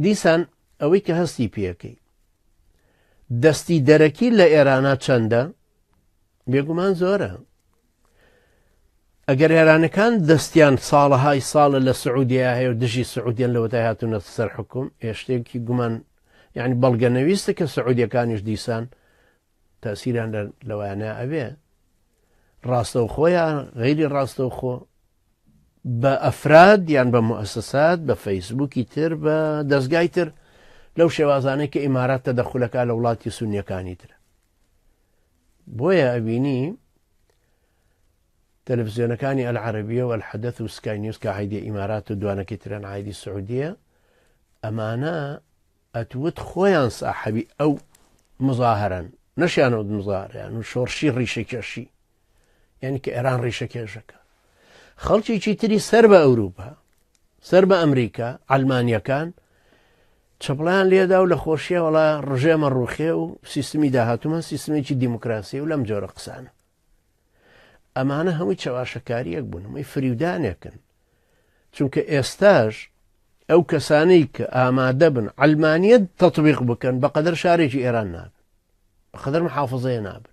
دیسان ئەوەی کە هەستی پێەکەی دەستی دەرەکی لە ئێرانە چەندە بێگومان زۆرە ئەگەر ئێرانەکان دەستیان ساڵەهای ساڵە لە سعودیا هەیە و دژی سعودیان لەوەتای هاتوونە سەر حکوم هێشتێکی گومان یعنی بەڵگەنەویستە کە سعودیەکانیش دیسان تاسیران لەوانە ئەبێ ڕاستەوخۆیان غیری ڕاستەوخۆ بە ئەفراد یان بە موئەسەسات، بە فەیسبووکی تر، بە دەزگای تر، لەو شێوازانەی کە ئیمارات تەدەخول ئەکا لە وڵاتی سونییەکانی تر. بۆیە ئەبینی تەلەفزیۆنەکانی ئەلعەرەبیە و ئەلحەدەث و سکای نیوز کە عیدی ئیمارات و دوانەکەی ترەن عیدی سعودیە ئەمانە ئەتوت خۆیان ساحەبی ئەو مزاهرن نەشیانەوت مزاریان و شۆڕشی ڕیشە کێشی یعنی کە ئێران ڕیشە کێژەکە خەڵکیی تری سەر بە ئەوروپا سەر بە ئەمریکا ئەلمانیەکان چپڵیان لێدا و لە خۆشیە وڵا ڕژێمە ڕوخێ و سیستمی داهاتومان سیستمێکی دیموکراسی و لەم جۆرە قسانە ئەمانە هەمووی چەواشەکاریەک بوون هەمووی فریودانێکن چونکە ئێستاش ئەو کەسانەی کە ئامادە بن ئەلمانیت تەطببیق بکەن بەقدر شارێکی ئێران نابن بەقدر محافظەیە نابن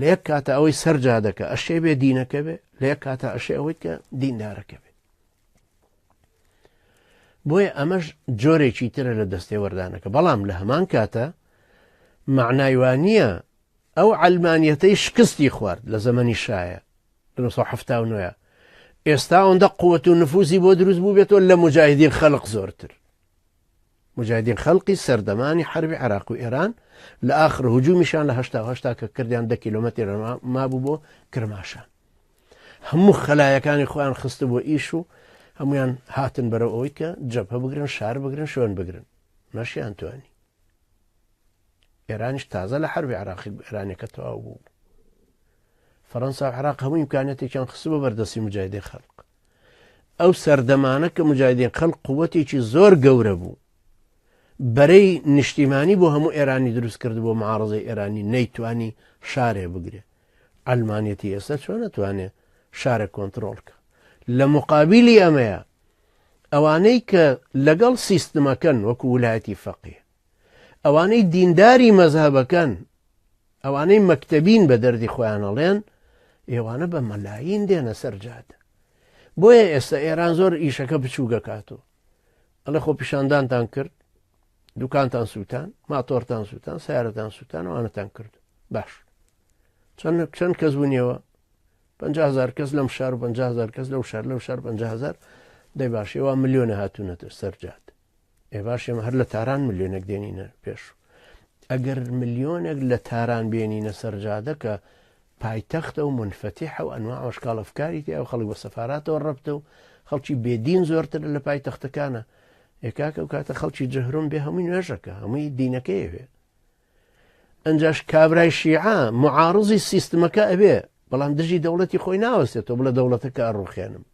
لەیەک کاتە ئەوەی سەر جادەکە ئەشێ بێ دینەکە بێ لەیەک کاتە ئەشێ ئەوەیت کە دیندارەکە بێ بۆیە ئەمەش جۆرێکی ترە لە دەستێ وەردانەکە بەڵام لە هەمان کاتە معنایوانە ئەو ئەلمانیەتەی شکستی خوارد لە زەمەنی شایە 1970 ئێستا ئەوەندە قوت و نفوزی بۆ دروست بوو بێتەوە لە مجاهدین خەلق زۆرتر موجاهیدین خەلقی سەردەمانی حەربی عێراق و ئێران لە ئاخر هجومیشان لە هەشتا و هەشتا کە کردیان دە کیلۆمەتر مابوو بۆ کرماشان هەموو خەلایەکانی خۆیان خستە بۆ ئیش و هەمویان هاتن بەرەو ئەوەی کە جەبهە بگرن شار بگرن شوێن بگرن نەشیان توانی ئێرانیش تازە لە حربی عراقی ئێرانەکە تەواو بوو فەرەنسا عراق هەموو امکانەتێکیان خست بۆ بەردەستی مجاهدی خەلق ئەو سەردەمانە کە مجاهدین خەلق قوتێکی زۆر گەورە بوو بەرەی نیشتیمانی بۆ هەموو ئێرانی دروست کرد بۆ معارزەی ئێرانی نەیتوانی شارێ بگرێ ئەلمانەتی ئێستا چۆن نەتوانێت شارە کۆنتترۆلکە لە مقابلی ئەمەیە ئەوانەی کە لەگەڵ سیستمەکەن وەکو ولایەتی فەقیە ئەوانەی دینداری مەزهبەکەن ئەوانەی مەکتەبین بە دەردی خۆیانەڵێن ئێوانە بە مەلاین دێنە سەرجاد بۆیە ئێستا ئێران زۆر ئیشەکە بچوو دەکات و ئەڵێ خۆ پیشاندانتان کرد دوکانتان سووتان ماتۆرتان سووتان سیارەتان سووتان وانەتان کرد باش چەند چەند کەس بوونیەوە 500هزار کەس لەم شار و 500هزار کەس لەو شار لەو شار 500هزار دەی باشەوە ملیۆنە هاتوونەتە سەرجات ئێ باش ئێمە هەر لە تاران ملیۆنێک دێنینە پێش ئەگەر ملیۆنێک لە تاران بێنینە سەرجادەکە پایتەختە و منفەتیحە و ئەنوا ئەشکاڵەفکاری تیا و خەڵک بە سەفااتەوە ڕەبتە و خەڵکی بێدین زۆرتر لە پایتەختەکانە ئێکاکە و کاتە خەڵکی جەهرم بێ هەمووی نوێژەکە هەمووی دینەکەیەوێ ئەنجاش کابرای شیعە معارزی سیستمەکە ئەبێ بەڵام دژی دەوڵەتی خۆی ناوەستێتەوە بڵە دەوڵەتەکە ئەڕوخێنم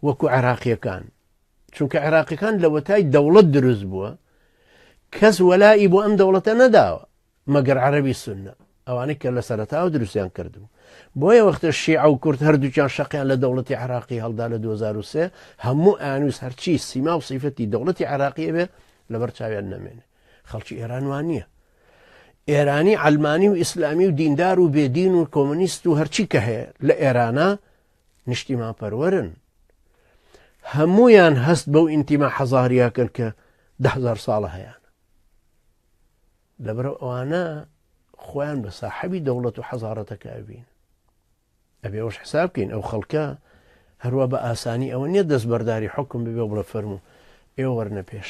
وەکو عێراقیەکان چونکە عێراقیەکان لەوەتای دەوڵەت دروست بووە کەس وەلائی بۆ ئەم دەوڵەتە نەداوە مەگەر عەربی سنە ئەوانەی کە لە سەرتاوە دروستیان کردبوو بۆیە وەختە شیعە و کورد هەردووچان شەقیان لە دەوڵەتی عراقی هەڵدا لە 2023 هەموو ئانووس هەرچی سیما و سیفەتی دەوڵەتی عراقیە بێ لەبەر چاویان نامێنێ خەڵکی ئێران وان نییە ئێرانی ئەلمانی و ئیسلامی و دیندار و بێدین و کۆمەنیست و هەرچی کە هەیە لە ئێرانە نیشتیمان پەروەرن هەمویان هەست بەو ئینتیما حەزاریاکەن کە دهزار ساڵە هەیەیان لەبەر ئەوانە خۆیان بە ساحەبی دەوڵەت و حەزارەتەکە ئەبین ئەبێ ئەوش حساب بکەین ئەو خەڵکە هەروە بە ئاسانی ئەوە نییە دەست بەرداری حکم ببێ بڵە فەرمو ئێوە وەرنە پێش